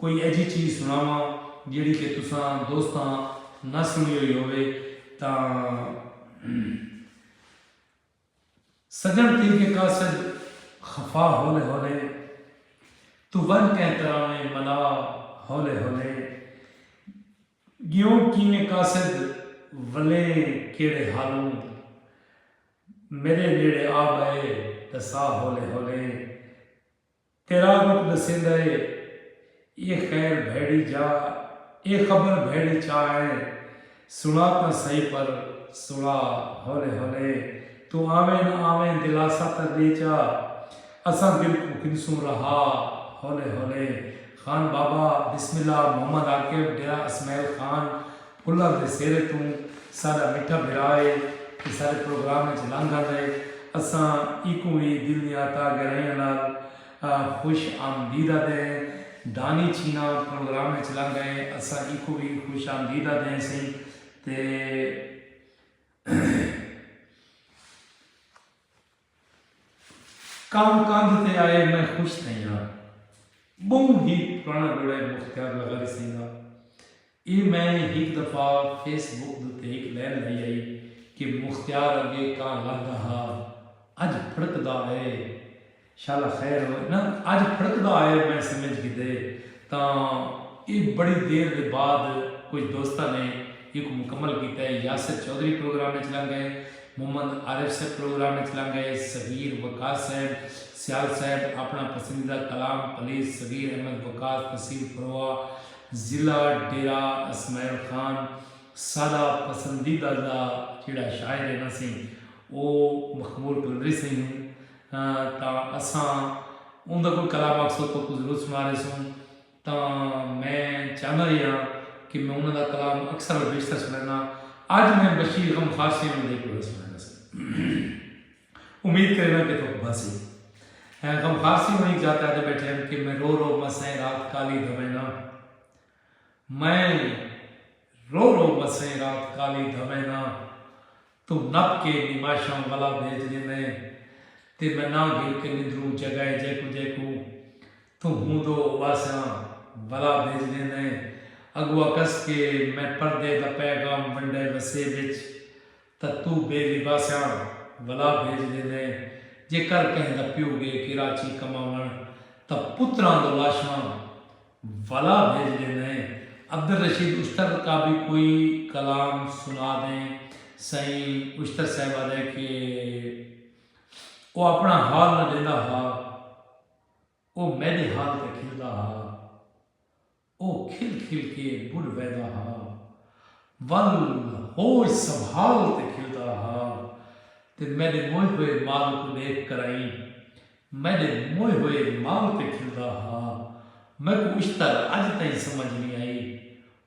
کوئی ایجھی چیز سنڑاواں جیہڑی کہ تساں دوستاں نہ سنڑی ہوئی ہووے تاں سجن تیغے قاصد خفا ہولے ہولے توں ونج کہیں تراویں ملا ہولے ہولے گیوں کیویں قاصد ولے کیہڑے حالوں میڈے نیڑے آ بئے ڈسا ہولے ہولے تیرا رخ ڈسیندا اے اے خیر بھیڑی جا اے خبر بھیڑی چا اے سنا تاں سہی پر سنا ہولے ہولے توں آویں نہ آویں دلاسا تاں ڈے چا اساں دل کوں گھنسوں رہا ہولے ہولے خان بابا بسم اللہ محمد عاقب ڈیرہ اسمعیل خان کلر دے سیرے توں ساڈا مٹھا بھرا اے تے ساڈے پروگرام اچ لنگھ آندا اے اساں ایکوں وی دل دیاں تہ گہرائیاں نال خوش آمدید آدھے ہیں دانی چھینا پروگرام اچ لنگھ آئے اساں ایکوں وی خوش آمدید آدھے ہیں سئیں تے۔ کم کندھ تے آئے میں خوش تھئیاں بہوں ہی پرانا جوڑا ہے مختیار لگا دی سنگھ دا اے میں ہک دفعہ فیس بک دے تے ہک لین لائی آئی کہ مختیار اگے کاں لہدا ہا اج پھڑکدا اے شالا خیر ہو نا اج پھڑکدا اے میں سمجھ گھدے تاں اے بڑی دیر دے بعد کجھ دوستاں نے ایکوں مکمل کیتا ہے۔ یاسر چوہدری پروگرام اچ لنگ گئے، محمد عارف صاحب پروگرام اچ لنگ گئے، صغیر وقاص صاحب، سیال صاحب اپݨا پسندیدہ کلام پلیز صغیر احمد وقاص تحصیل فروا ضلع ڈیرہ اسماعیل خان ساݙا پسندیدہ دا جیڑھا شاعر ہے نا سئیں او مخمور قلندری سئیں ہن تاں اساں اوندا کوئی کلا مقصد توں کوں ضرور سنا رہے سوں تاں میں چاہندا ہی ہاں کہ میں انہاں دا کلام اکثر اور بیشتر سنینا اج میں بشیر غم خار سیاں نال دیکھ بڑا سنینا سی امید کرینا کہ تھوک بھاسی غم خار سی ہوئی جاتے آتے بیٹھے ہیں کہ میں رو رو مسئیں رات کالی دھوینا میں رو رو وسیں رات کالی دھویناں تو نپ کے نماشاں ولا بھیج گھنیں تے میں ناں گھل کے نندروں جگائے جیکوں جیکوں تو ہوں دو اواسیاں ولا بھیج گھنیں اگوا کس کے میں پردے دا پیغام ونڈے وسے وچ تاں تو بے لباسیاں ولا بھیج گھنیں جے کر کہیں دا پیو گے کراچی کماون تاں پتراں دو لاشاں ولا بھیج ڈیندیں۔ عبدالرشید اشتر کا بھی کوئی کلام سنا دیں سئیں اشتر صاحب آدھے کہ او اپنا حال نہ ڈیندا ہا او میڈے حال تے کھلدا ہا او کھل کھل کے بڈھ ویدا ہا ول ہوش سنبھال تے کھلدا ہا تے میڈے موئے ہوئے مال کو ڈیکھ کرائیں میݙے موئے ہوئے مال تے کھلدا ہا۔ میکوں اشتر اڄ تئیں سمجھ نی آئی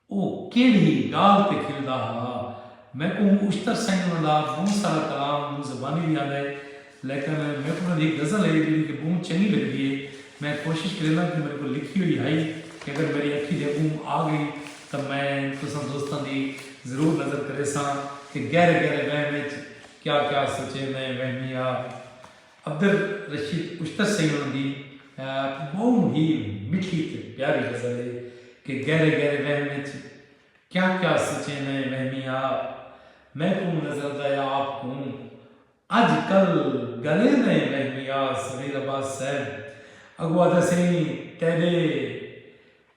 او کیڑھی ڳالھ تے کھلدا ہا۔ میکوں اشتر سئیں انہاں دا ٻہوں سارا کلام مونہہ زبانی وی آندا ہے لیکن میکوں انہاں دی ہک غزل ہے جیڑھی کہ ٻہوں چنڳی لڳدی ہے۔ میں کوشش کرینداں کہ میݙے کول لکھی ہوئی ہئی کہ اگر میݙی اکھیں دے اڳوں آ ڳئی تاں میں تساں دوستاں دی ضرور نظر کریساں کہ گہرے گہرے وہم اچ کیا کیا سچیندے وہمی آ۔ عبدالرشید اشتر سیون دی اک بہوں ہی مٹھی تے پیاری غزل ہے کہ گہرے گہرے وہم وچ کیا کیا سچیں نئیں وہمیاں آ میکوں نظر دا یا آپ کوں اج کل گلیں نئیں وہمیاں آ صغیر عباس صاحب اگو آدھا سئیں تیڈے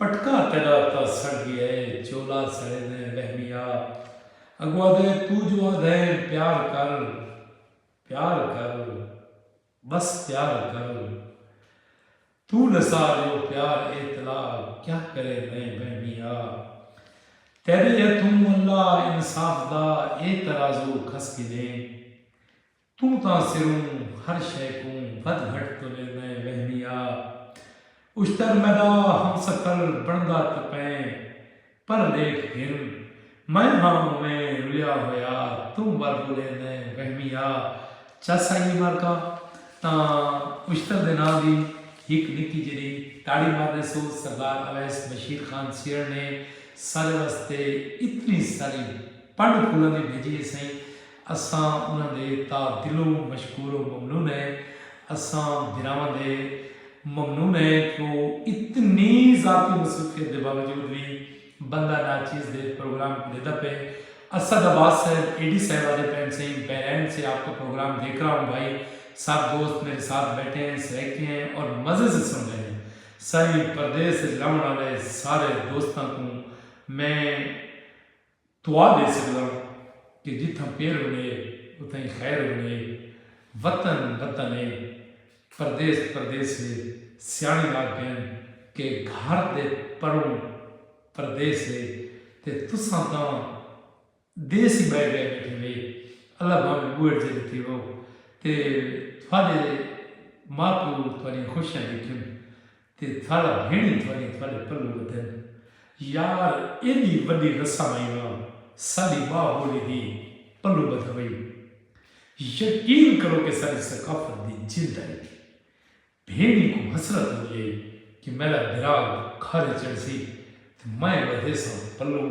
پٹکا تیݙا تاں سڑ ڳیا اے چولا سڑے دیں وہمیا اڳوں آدھے توں جو آدھیں پیار کر پیار کر بس پیار کر توں نثار یو پیار اے تلا کیا کرے دیں وہمیا تیݙے ہتھوں اللہ انصاف دا اے ترازو کھس گھنے توں تاں سروں ہر شئے کوں ودھ گھٹ تولیندئیں ویہنی آ اشتر میڈا ہم سفر بنڑدا تاں پئیں پر لیکھ گھن میں ہاں اوویں رویا ہویا توں ول رولیندئیں ویہنی آ چس آئی اے مارکا تاں اشتر دے ناں دی ہک نکی جیڈی تاڑی مار ڈیسو سردار اویس بشیر خان سیہڑ نے سارے واسطے اتنی ساری پنڈ پھولاں دی بھیجی اے سئیں اساں انہاں دے تا دلوں مشکور و ممنون ہیں۔ اساں بھراواں دے ممنون ہیں کہ او اتنی ذاتی مصروفیت دے باوجود وی بندہ ناچیز دے پروگرام کوں ڈیدا پئے۔ اسد عباس صاحب اے ڈی صاحب آدھے پئن سئیں بحرین سے آپ کا پروگرام دیکھ رہا ہوں بھائی سب دوست میرے ساتھ بیٹھے ہیں سرائیکی ہیں اور مزے سے سن رہے ہیں سائیں پردیس اچ رہون آلے سارے دوستاں کوں میں دعا ڈے سگداں کہ جتھاں پیر ونجے اتھائیں خیر ونجے وطن وطن اے پردیس پردیس اے سیاݨے آکھدن کہ گھر دے پروں پردیس اے تے تساں تاں دیس ای ٻہہ ڳئے ٻیٹھے وے اللہ بھانویں ٻوہڑ جیندے تھیوو تے تہاݙے ماء پیو تہاݙیاں خوشیاں ݙیکھن تے تھاڑا بھیݨ ای تھاڈے تھاڈے پلوں ودھن یار ایڈی وڈی رسم آئی نا ساڈی ماء بولی دی پلوں بدھا وئی یقین کرو کہ ساڈی ثقافت دی جند آئی تھی بھیݨ ای کوں حسرت ہوندی آئی کہ میڈا بھرا گھر چڑھسی تے میں بدھیساں پلوں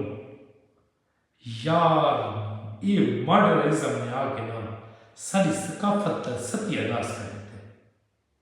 یار اے ماڈرن ازم نے آ کے نا ساڈی ثقافت دا ستیہ ناس کر ڈتے۔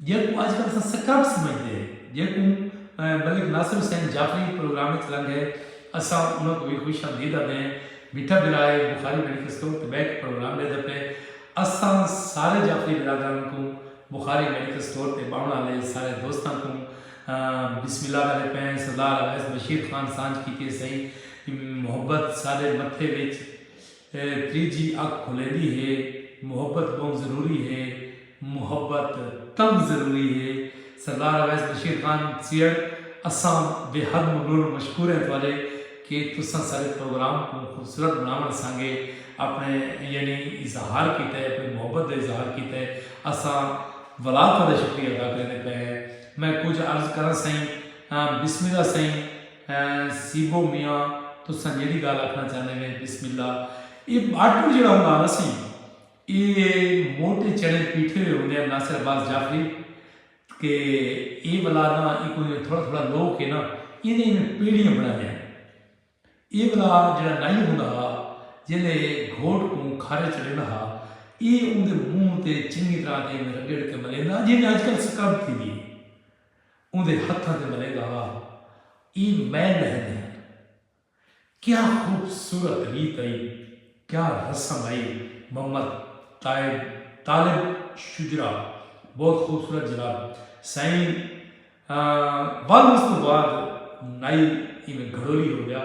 جیکوں اج کل اساں سکرپٹ سمجھدے ہیں جیکوں ملک ناصر حسین جعفری پروگرام وچ لنگ ہے اساں انہاں کوں وی خوش آمدید آدھے ہیں میٹھا بھرا ہے بخاری میڈیکل سٹور تے بیٹھ کے پروگرام ڈیندا پئے اساں سارے جعفری برادران کوں بخاری میڈیکل سٹور تے باون آلے سارے دوستاں کوں بسم اللہ کرے پئے ہیں سردار اویس بشیر خان سانجھ کیتی اسائی محبت ساڈے متھے وچ فیر تریجھی اکھ کھلیندی ہے محبت بہوں ضروری ہے محبت تہوں ضروری ہے سردار اویس بشیر خان سیہڑ اساں بے حد ممنون و مشکور ہیں تہاڈے کہ تساں ساڈے پروگرام کوں خوبصورت بناونڑ سانگے اپنڑے یعنی اظہار کیتے اپنڑی محبت دا اظہار کیتے اساں ولا تہاڈا شکریہ ادا کریندے پئے ہیں میں کجھ عرض کراں سائیں بسم اللہ سائیں سیبو میاں تساں جیڑھی گالھ آکھنا چاہندے وے بسم اللہ اے باٹڑ جیڑا ہوندا ہا نا سی اے موٹے چڑے پیٹھے ہوئے ہوندے ہن ناصر عباس جعفری کہ اے ولا نا اے کوئی تھوڑا تھوڑا لو کے نا ایں دے ایویں پیڑیاں بنا دے ہن اے ولا جیڑا نائی ہوندا ہا جیلے گھوٹ کوں کھارے چڑھیندا ہا اے اون دے منہ تے چنگی طرح تے ایویں رگڑ کے ملیندا جیویں اج کل سکرب تھی دی اے۔ اوندے ہتھاں تے ملینداں ہا ای میں لہندے ہن کیا خوبصورت ریت ائی کیا رسم ائی محمد تائب طالب شجرا بہت خوبصورت جناب سائیں ول اس توں بعد نائی ایویں گھڑولی ہو گیا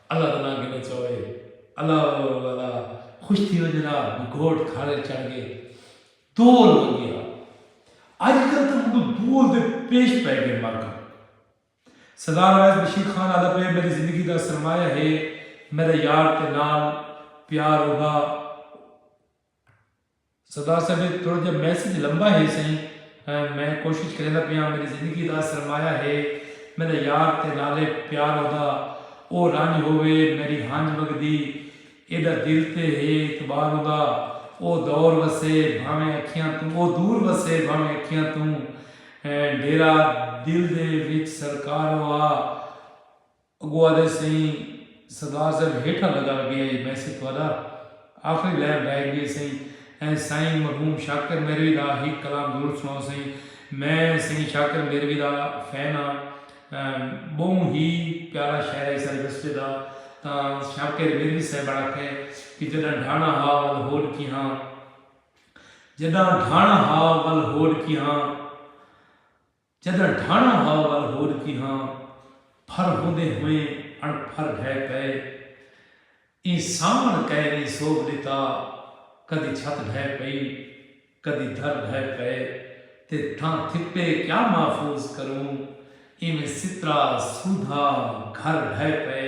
اللہ دا ناں گھنو چاؤ اے۔ اللہ اللہ اللہ اللہ خوش تھی ونجے نا بھئی گھوٹ کھاڑے چڑھ گئے دول ونگیا اج کل تاں منڈو دول دے پیش پے گئے مر گھن سردار اویس بشیر خان آدھا پے میڈی زندگی دا سرمایہ ہے میڈا یار تے نال پیار اوہا سردار صاحب اے تھوڑا جیہا میسج لمبا ہے سئیں میں کوشش کریندا پیاں میڈی زندگی دا سرمایہ ہے میڈا یار تے نالے پیار اودا او رنج ہووے میڈی ہنج وگدی ایڈا دل تے ہے اعتبار اوندا او دور وسے بھانویں اکھیاں توں او دور وسے بھانویں اکھیاں توں ڈیرا دل دے وچ سرکار او آ اگو آدھے سئیں سردار صاحب ہیٹھاں لگا وے پیا جے میسج تہاڈا آخری لائن رہ گی ہے سئیں ایں سائیں مرحوم شاکر میروی دا ہک کلام ضرور سناؤ سئیں میں سئیں شاکر میروی دا فین ہاں بہوں ہی پیارا شاعر ہے اساڈے وسبے دا تاں شاکر میروی صاحب بڑا کھے کہ جڈاں ڈھانا ہا ول ہوڈ کی ہاں جڈاں ڈھانا ہا ول ہوڈ کی ہاں جداں ڈھانڑاں ہا ول ہور کی ہاں پھر ہوندیں ہوئیں اݨ پھر ڈھے کئے ایں ساوݨ کئے نیں سوبھ ݙتا کدی چھت ڈھے پئی کدی در ڈھے پئے تے تھاں تھپے کیا محفوظ کروں ایویں سترا سودھا گھر ڈھے پئے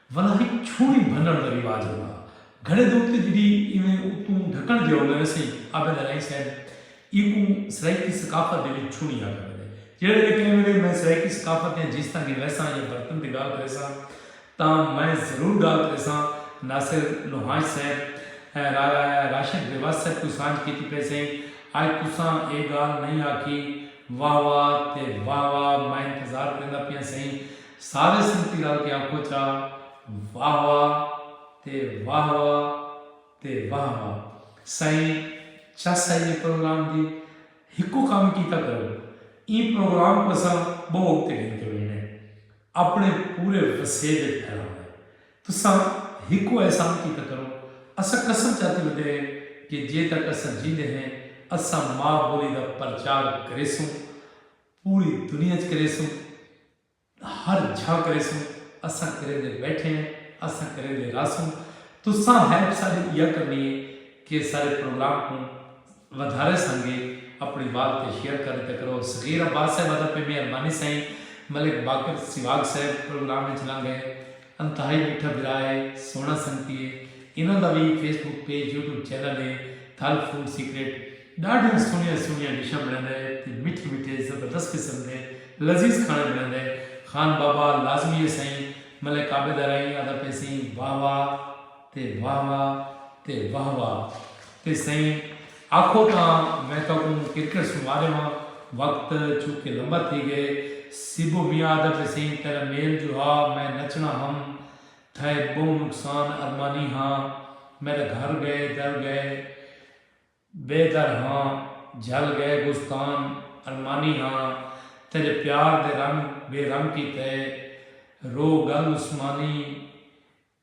ولا ہک چھوڑی بھنݨ دا رواج ہوندا ہا۔ گھڑے دے اتے جݙی ایویں اتوں ڈھکݨ جیہا ہوندا ویسے ہی آبے دا نئیں صاحب ایکوں سرائیکی ثقافت دے وچ چھوڑی آکھا ویندے۔ جیڑھے ویلے کہیں ویلے میں سرائیکی ثقافت دیاں جیستاں گھن ویساں یا برتن دی گالھ کریساں تاں میں ضرور گالھ کریساں ناصر لوہانچ صاحب راشد بیواس صاحب کوں سانجھ کیتی پئے سئیں اج تساں اے گالھ نئیں آکھی واہ واہ تے واہ واہ میں انتظار کریندا پیاں سئیں سارے سنگتی رل کے آکھو چا واہ واہ تے واہ واہ تے واہ واہ سائیں چس آئی اے پروگرام دی ہکو کم کیتا کرو ایں پروگرام کوں اساں بہو اگتے گھن کے وینے اپنے پورے وسیب اچ پھیلاوے تساں ہکو احسان کیتا کرو اساں قسم چاتی ودے ہیں کہ جے تک اساں جیندے ہیں اساں ماء بولی دا پرچار کریسوں پوری دنیا اچ کریسوں ہر جھا کریسوں اساں کریندے بیٹھے ہیں اساں کریندے رہسوں تساں ہیلپ ساڈی ایہا کرنی ہے کہ ساڈے پروگرام کوں ودھارے سانگے اپنی وال تے شیئر کر ڈتا کرو صغیر عباس صاحب ادا پہ مہربانی سائیں ملک باقر سیواگ صاحب پروگرام وچ لنگ گئے انتہائی میٹھا بھرا ہے سوہنا سنگتی ہے انہاں دا وی Facebook page YouTube channel ہے گل فوڈ سیکرٹ ݙاڈھیاں سوہݨیاں سوہݨیاں ڈشاں بݨیندا ہے تے مٹھے مٹھے زبردست قسم دے لذیذ کھاݨے بݨیندا ہے خان بابا لازمی ہے سئیں ملک عابد ارائیں آہدا پیسیں واہ واہ تے واہ واہ تے واہ واہ تے سئیں آکھو تاں میں تہاکوں کرکٹ سݨوا ݙیواں وقت چونکہ لمبا تھی ڳئے سیبو میاں آہدا پیسیں تیݙا میل جو ہا میں نچݨا ہم تھئے ٻہوں نقصان ارمانی ہاں میݙا گھر ڳئے در ڳئے بے در ہاں جھل گئے بستان ارمانی ہاں تیرے پیار دے رنگ بے رنگ کیتے رو گل عثمانی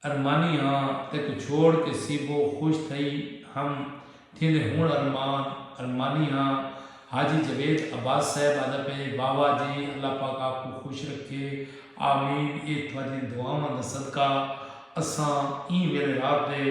ارمانی ہاں تیکوں چھوڑ کے سیبو خوش تھئی ہم تھیندے ہنڑ ارمان ارمانی ہاں حاجی جاوید عباس صاحب آدا پئے واوا جی اللہ پاک آپ کوں خوش رکھے آمین اے تھاڈیاں دعاواں دا صدقہ اساں ایں ویلے رات دے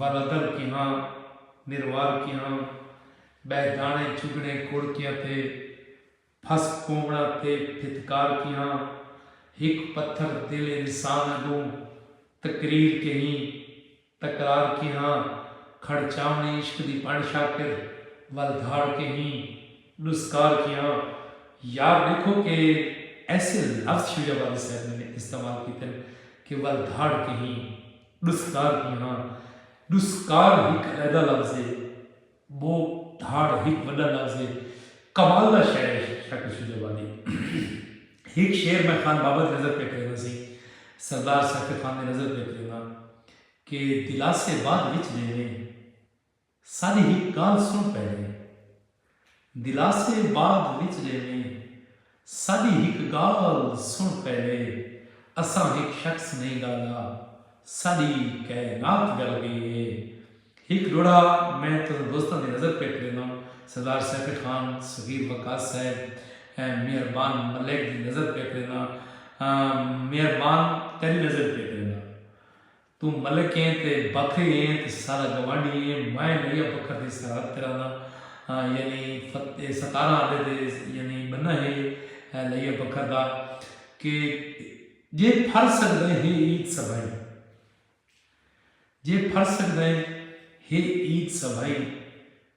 ولدر کیہاں نروار کیہاں بہہ داݨے چگݨے کڑ کیاں تھے پھس پووݨا تھے پھتکار کیہاں ہک پتھر دل انسان اڳوں تقریر کیہی تکرار کیہاں کھڑچاوݨی عشق دی بݨ شاکر ول دھاڑ کیہی ݙسکار کیہاں یار ݙیکھو کہ ایسے لفظ شجاع باغی صاحب نے استعمال کیتن کہ ول دھاڑ کیہی ڈسکار ہی ہاں ڈسکار ہک علیحدہ لفظ ہے بو دھاڑ ہک وڈا لفظ ہے کمال دا شعر ہے شاہ کشید آبادی ہک شعر میں خان بابا دی نظر پہ کرینا سی سردار سیف خان دی نظر پہ کرینا کہ دلاسے بعد وچ دیویں ساݙی ہک ڳالھ سݨ پہلے۔ دلاسے بعد وچ ݙیویں۔ ساݙی ہک ڳالھ سݨ پہلے۔ اساں ہک شخص نئیں ڳلدا۔ ساݙی کائنات ڳل ڳئی اے۔ ہک ݙوہڑا میں تساں دوستاں دی نظر پیک ݙینداں۔ سردار سیفی خان، صغیر وقاص صاحب، مہربان ملیک دی نظر پیک ݙینداں۔ مہربان تیݙی نظر پیک ݙینداں۔ توں ملک ایں تے بکھری ایں تے ساڈا گوانڈھی ایں، میں نئیا بکھر دی سرحد تے رہنداں ہاں یعنی اے ستارہ آندے تے یعنی بنہ ہے نئیا بکھر دا کہ جے پھر سگدیں ہے عید سبھائی جے پھر سگدیں ہے عید سبھائی۔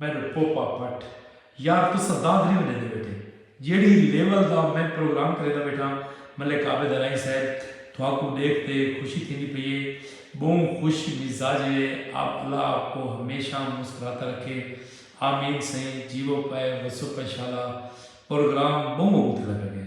میڈم پوپا بھٹ یار تساں داد نی ونجیندے بیٹے جیڑھی لیول دا میں پروگرام کریندا بیٹھاں ملک عابد الائی صاحب تھاکوں ڈیکھ تے خوشی تھیندی پئی اے بہوں خوش مزاجے آپ اللہ آپ کو ہمیشاں مسکراتا رکھے آمین سئیں جیوو پئے وسو پئے شالا پروگرام بہوں عمدہ لگا گئے۔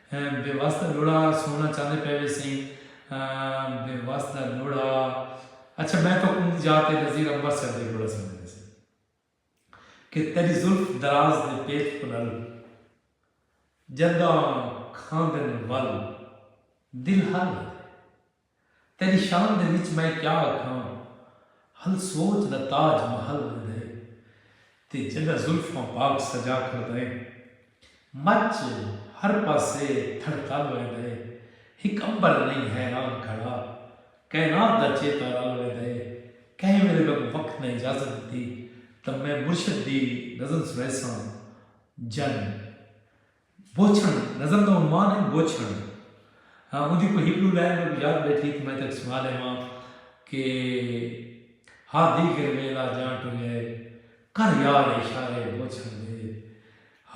بے وس دا لوڑھا سونا چاہندے پئے ویسیں بے وس دا لوڑھا اچھا میں تہاکوں اوندی جاہ تے نذیر امبر صاحب دا لوڑھا سݨ ݙیندے سئیں کہ تیݙی زلف دراز دے پیچ پلل جݙاں کھاندن ول دل ہل آندے۔ تیݙی شان دے وچ میں کیا آکھاں ہل سوچ دا تاج محل ویندے تے جݙاں زلفاں پاک سجا کھڑدائیں مچ ہر پاسے تھڑتل ویندے ہک عنبر نئیں حیران کھڑا کائنات دا چیتا رل ویندے کہیں ویلے میکوں وقت نے اجازت ݙتی تاں میں مرشد دی نظم سݨیساں جن بوچھݨ، نظم دا عنوان ہے بوچھݨ۔ ہاں اوندی کوئی ہک ݙو لائن میکوں یاد ٻیٹھی تاں میں تیکوں سݨا ݙیواں کہ ہا دیگر ویلا جاں ٹرے کر یار اشارے بوچھݨ دے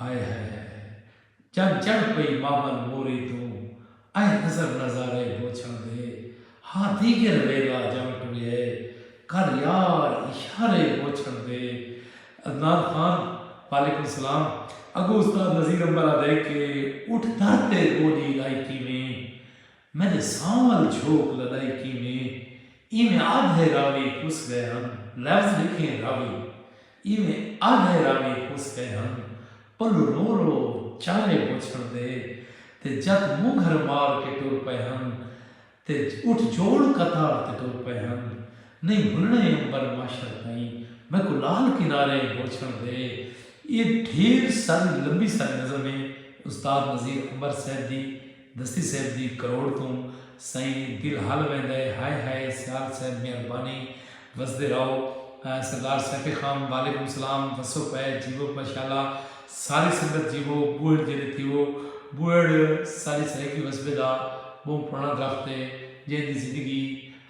ہائے ہائے ہائے ہائے جݙ چڑھ پئی مابل موری توں ایں نظر نظارے ہوچھاں دے ہا دیگر ویلا جاں ٹریا اے کر یار اشارے ہوچھاں دے عدنان خان وعلیکم سلام اگو استاد نذیر امبر آدھے کہ اٹھ در تے گوڈی لائی کیویں میڈے سانول جھوک لڈائی کیویں ایویں آدھے راوی پس گئے ہن لفظ لکھیں راوی ایویں آدھے راوی ہس گئے ہن۔ پلو رو رو چالے ہو چھڑ دے تے جت مونگھر مار کے ٹر پئے ہن تے اٹھ جوڑ قطار تے ٹر پئے ہن۔ نئیں بھلنڑے امبر معاشر تئیں میکوں لال کنارے ہو چھڑ دے۔ ایہ ڈھیر ساری لمبی ساری نظم ہے استاد نذیر امبر صاحب دی۔ دستی صیب دی کروڑ توں سئیں دل ہل ویندا ہے ہائے ہائے سیال صیب مہربانی وسدے رہو سردار سیف خان وعلیکم سلام وسو پئے جیوو ماشاءاللہ ساری سنگت جیوو بوہڑ جیندے تھیوو بوہڑ ساڈی سرائیکی وسبے دا بہوں پرانا درخت ہے جیندی زندگی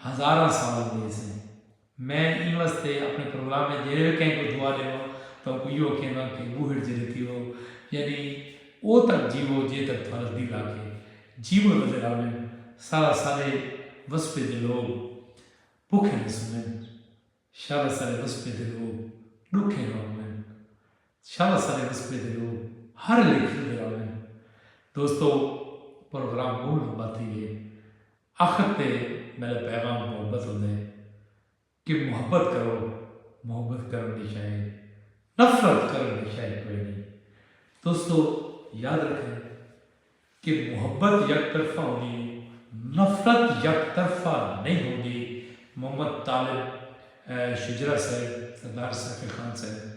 ہزاراں سال ہوندی ہے سئیں۔ میں ایں واسطے اپݨے پروگرام اچ جیڑھے وی کہیں کوں دعا ݙیواں تاں اوکوں ایہو کھیواں کہ ٻوہڑ ج ریتی وہو یعنی او تک جیوو جے تک تہاݙا دل آکھے جیوو نظر آون سارا سارے وسپے دے لوگ بکھے نہ سمن شارا سارے وسپے دے لوگ ݙکھے نہ ہوون شارا سارے وسپے دے لوگ ہر لیکھل دے راون دوستو پروگرام ٻہوں لمبا تھی ڳئے۔ اخر تے میݙا پیغام محبت ہوندے کہ محبت کرو محبت کرݨ دی شئ ہے نفرت کرݨ دی شئ کوئ نی دوستو یاد رکھئے کہ محبت یک طرفہ ہوندی ہے نفرت یک طرفہ نئیں ہوندی محمد طالب شجرہ صاحب سردار ساقی خان صاحب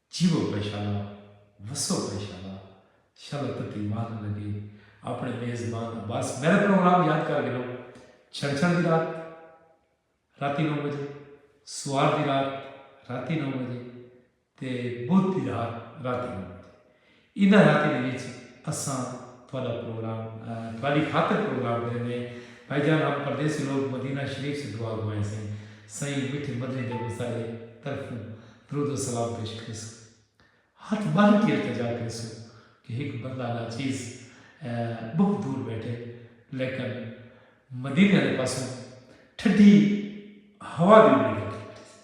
جیوو پئے شالا وسو پئے شالا شالا تتی ماہ نہ لگے اپنے میزبان عباس میرا پروگرام یاد کر گھنو چھڑ چھڑ دی رات راتی نو بجے سوار دی رات راتی نو بجے تے بدھ دی رات راتی نو بجے انہاں علاقیں دے وچ اساں تہاڈا پروگرام تہاڈی خاطر پروگرام کریندے ہیں بھائی جان ہم پردیسی لوگ مدینہ شریف سے دعا گو ہیں سئیں سائیں مٹھے مدنی دے مظاہرے طرفوں درود و سلام پیش کریسو ہتھ بن کے التجا کریسو کہ ہک بندہ ناچیز بہت دور بیٹھے لیکن مدینہ دے پاسوں ٹھڈی ہوا دی امید رکھی بیٹھے سئیں۔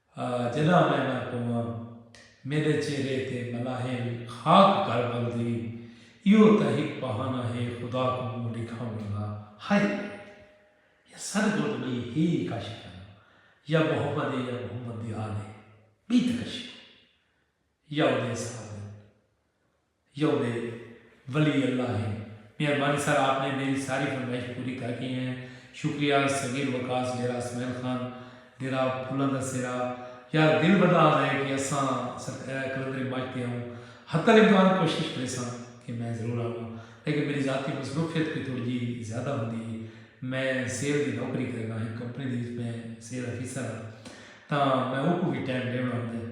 جݙاں میں نہ پوواں میݙے چہرے تے ملاحیں وی خاک گھل ٻلدی ایہو تاں ہک بہانہ ہے خدا کوں منہ ݙکھاوݨ دا ہائی وے یا سݙ گھٹ ٻئی ہے ای کا شے کن یا محمد ہے یا محمد دی آل ہے ٻئی تاں کشے کوئی یا اوندے اصحاب ہن یو دے ولی اللہ ہن۔ مہربانی سر آپ نے میری ساری فرمائش پوری کر گھیں ہیں شکریہ صغیر وقاص ڈیرہ اسمعیل خان ڈیرہ پھلاں دا سیرا یار دل ودا آزا ہے کہ اساں قلندری ماچ تے آؤں حتی الامکان کوشش کریساں کہ میں ضرور آواں لیکن میری ذاتی مصروفیت کوئی تھوڑی جی زیادہ ہوندی ہے میں سیل دی نوکری کرنا ہک کمپنی دی وچ میں سیل آفیسر ہاں تاں میں اوکوں وی ٹائم ڈیونا ہوندا ہے